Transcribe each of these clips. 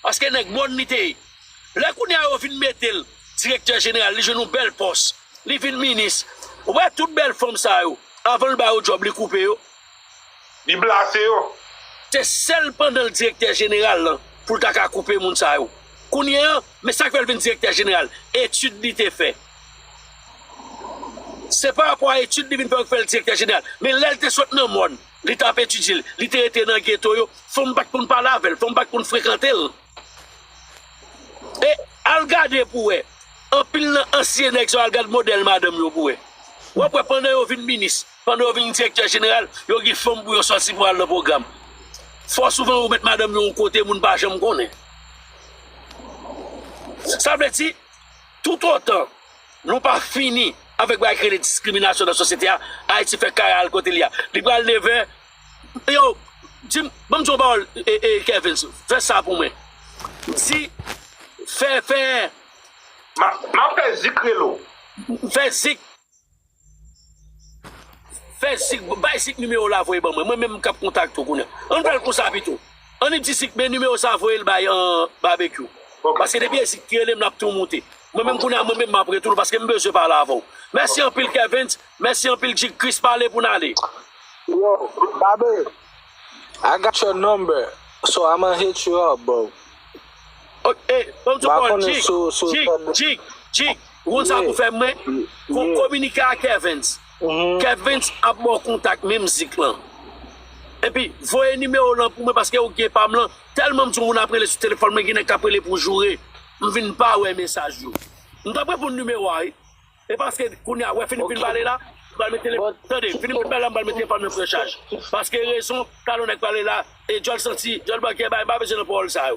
Paske nèg mòn li te ye. Lè kounye a yo vin mete l direktè jeneral, li jwenn yon bèl pòs, li vin minis. Ou wè tout bèl fanm sa yo, avan l ba yo djòb li koupe yo. Li blase yo. Se sèl pandan l direktè jeneral lan pou l ta ka koupe moun sa yo. Kounye a, men sa k fè l vin direktè jeneral, etid li te fè. Se parapò a etid li vin fè yo k fè l direktè jeneral. Men lè l te sot nan mòn. Li t ap etidye l. Li te rete nan geto yo. Fò m pa t konn pale avè l. Fò m pa t konn frekante l. E, al gade pou w wè, anpil nan ansyen nèg sa yo, al gade modèl madanm yo pou w wè. W ap wè pandan yo vin minis, pandan yo vin direktè jeneral, yo gen fanm pou yo sòti pou al nan pwogram. Fò souvan yo met madanm yo yon kote moun pa janm konnen. Sa vle di, toutotan. Nou pa fini avèk bagay ki rele diskriminasyon nan sosyete a, Ayiti fè kare al kote li a. Li pral neve, yo, di m, ban m di w yon pawòl, Kervens, fè sa pou mwen. Di, fè, fè. M ap fè zik rele w. Fè zik. Fè zik bay zik nimewow la voye ban mwen mwen menm kap kontakte w kounya ann fèl konsa pito ann di zik men nimewo sa voyel bay babekyou paske depi e zik ki relem lap tou moute mwen menm kounya mwen menm map retourne paske m bezwen pale avèw mèsi anpil kervens mèsi anpil jig kris pale pou n ale. Yo babe I got your number so I'ma hit you up bro ok banm ti kòl jig jig jig jig. Ou konn sa pou fè mwen kominike a kevens kevens ap baw kontak men mizik lan epi voye nimewo lan pou mwen paske ou gen pam lan telman m sou moun ap rele sou telefòn mwen gen nèg kap rele pou joure m vin pa wè mesaj yo m tap reponn nimewo a wi e paske kounye a wè fini fin pale la m pral met telefòn tande fini fin pale la m pral met telefòn mwen pran chaj paske rezon talon nèg pale la e dyòl santi dyòl bankè bay m pa bezwen nan pawòl sa yo.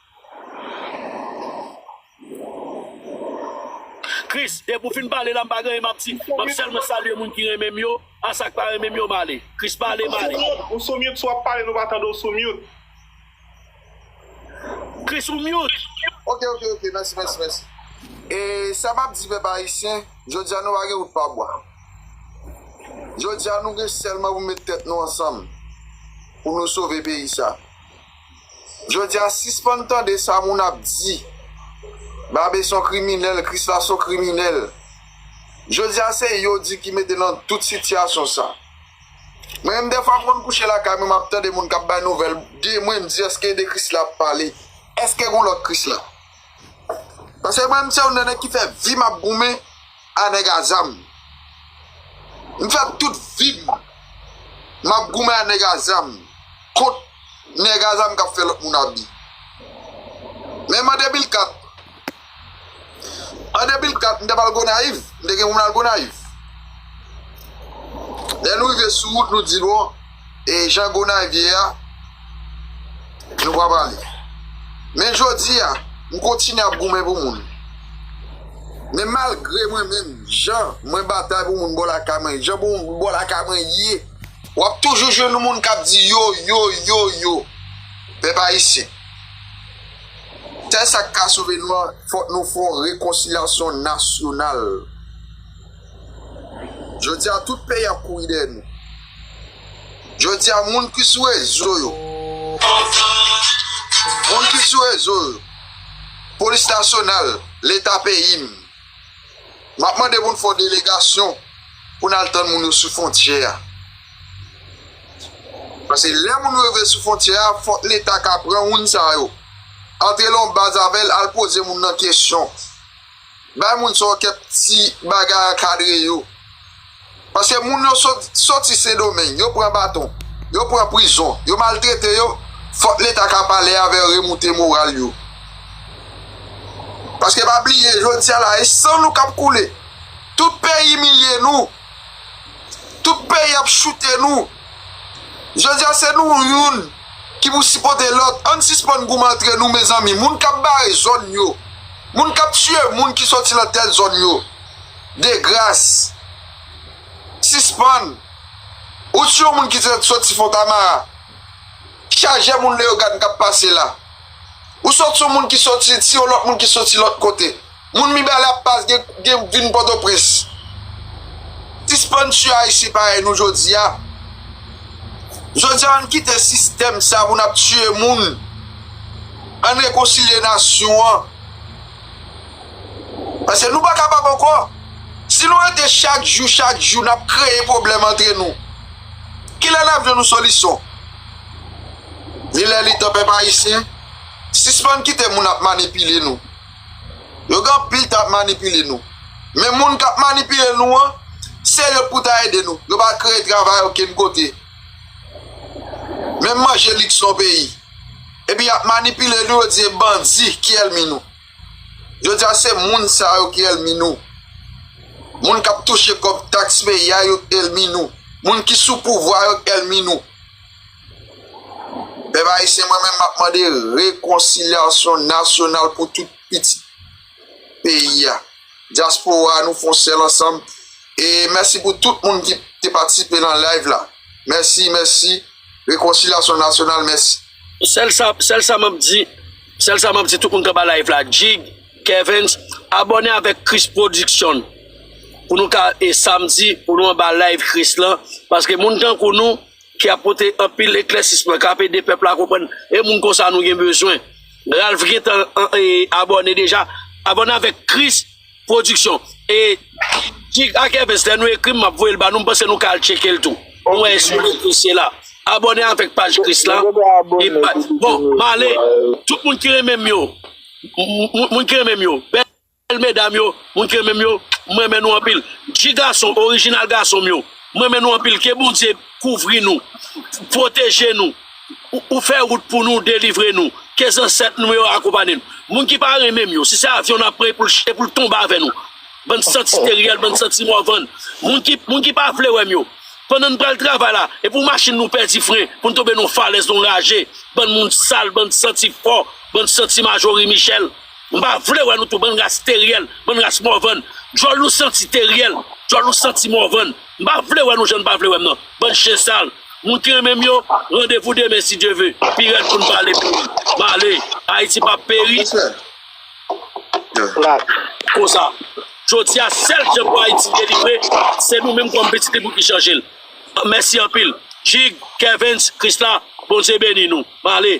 Chris depi ou fin pale la m pa gen anyen m ap di map selman salye moun ki renmen m yo a sak pa renmen m yo male Chris pale male. Ou sou mute si wap pale nou pa tande w sou mute. Chris ou mute. Ok ok ok mèsi mèsi mèsi e sa map di pèp ayisyen jodia nou pa gen wout pa bwa jodia nou gen sèlman pou met tèt nou ansanm pou nou sove peyi sa Jodia sispann tande sa moun ap di babe son kriminèl krisla son kriminèl jodia se yo di ki mete nan tout sitiyasyon sa mwen menm dèfwa m konn kouche lakay mwen map tande moun kap bay nouvèl de mwen m di eske de krisla ap pale eske gon lòt krisla. Paske mwen se yon nan nèg ki fè vim ap goumen a nèg a zam. M fè tout vim m ap goumen a nèg a zam kont nèg a zam k ap fè lòt moun abi. Men m an 2004, an 2004 m te pral Gonayiv, m te gen pou m al Gonayiv. Lè nou rive sou wout nou di bon. E Jan Gonayiv ye a, nou pa pale. Men jodi a, m kontinye ap goumen pou moun. Men malgre mwen menm, jan mwen batay pou moun bò lakay mwen, jan pou moun bò lakay mwen ye, w ap toujou jwenn moun k ap di yo, yo, yo, yo. Pèp Ayisyen, sèl sa k ka sove nou an, fòk nou fè yon rekonsilyasyon nasyonal. Jodi a, tout peyi ap kouri dèyè nou. Jodi a moun ki sou rezo yo. Moun ki sou rezo yo. Polis nasyonal, leta peyi m. M ap mande pou n fè yon delegasyon pou n al tann moun yo sou fontyè a. Pase lè moun yo rive sou fontyè a fòk leta ka pran moun sa yo. Antre lan yon baz avè l al poze moun nan kesyon. Bay moun sa yo kep ti bagay ankadre yo. Paske moun yo soti sendomeng yo pran baton yo pran prizon yo maltrete yo fok leta ka pale avè remoute moral yo. Paske pa bliye jodia la e san nou kap koule tout peyi imilye nou Tout peyi ap choute nou. Jodi a se nou youn ki pou sipote lòt. Ann sispann goumen antre nou mezanmi. Moun kap bare zòn yo. Moun kap tiye moun ki soti lan tèl zòn yo. De gras. Sispann. Ou si yon moun ki soti fontamara. Chaje moun leogane kap pase la. Ou soti yon moun ki soti si yon lòt moun ki soti lòt kote. Moun mibalè ap pas gen vin pòtoprens sispann tye ayisyen parèy nou jodia jodia ann kite sistèm sa pou nap tye moun ann rekonsilye nasyon an paske nou pa kapab ankò si nou rete chak jou chak jou nap kreye pwoblèm antre nou kilè nap jwenn yon solison li lè li tan pèp ayisyen sispann kite moun ap manipile nou. Yo gen anpil tan ap manipile nou. Men moun k ap manipile nou an, se yo k pou ta ede nou. Yo pa kreye travay okenn kote. Menm manje liks yon peyi. Epi y ap manipile nou, yo di se bandi ki èlmi nou. Jodi a se moun sa yo ki èlmi nou. Moun k ap touche kòb taks peyi a yo k èlmi nou. Moun ki sou pouvwa yo k èlmi nou. Pèp Ayisyen mwen menm map mande rekonsilyasyon nasyonal pou tout pitit peyi a dyaspora nou fon sèl ansanm e mèsi pou tout moun ki te patisipe nan live la mèsi mèsi rekonsilyasyon nasyonal mèsi. Sèl sa sèl sa map di sèl sa map di tout moun kanba live la Jig, Kevens abòne avèk Chris production pou nou ka e samdi pou nou anba live Chris lan paske moun tankou nou. ki ap pote anpil eklèsisman kap ede pèp la konprann e moun konsa nou gen bezwen Ralph gentan abòne deja abòne avèk Chris production e Tig ak Evens lè nou ekrim map voyel ba nou m panse nou ka al tchekel tou pou wè eske nou apresye la abòne avèk paj Chris la bon male tout moun ki renmenm yo moun ki renmenm yo. Bèl medam yo, moun ki renmenm yo, m renmen nou anpil. Dji gason, orijinal gason m yo, m renmen nou anpil. Ke Bondye kouvri nou, pwoteje nou, ou fè wout pou nou, delivre nou. Ke zansèt nou yo akonpanye nou. Moun ki pa renmenm yo, si se avyon n ap pran e pou l tonbe avè nou. Bann san steryèl, bann san ti mòvann. Moun ki pa vle wè m yo, pandan n pral travay la, e pou machin nou pèdi fren, pou n tonbe nan yon falèz, nan yon raje. Bann moun sal, bann santi fò, bann santi majori michèl. M pa vle wè nou tou bann ras teriel bann ras morvan dyòl nou santi teriel dyòl nou santi morvan m pa vle wè nou jan nou pa vle wè m nan bann chen sal moun ki renmen m yo randevou demen si Dye ve pi rèd pou n pale pou li m ale Ayiti pap peri konsa jodi a sèl jan pou Ayiti delivre se nou menm kòm pitit li pou ki chanje l mèsi anpil Jig Kervens Krisla Bondye beni nou m ale.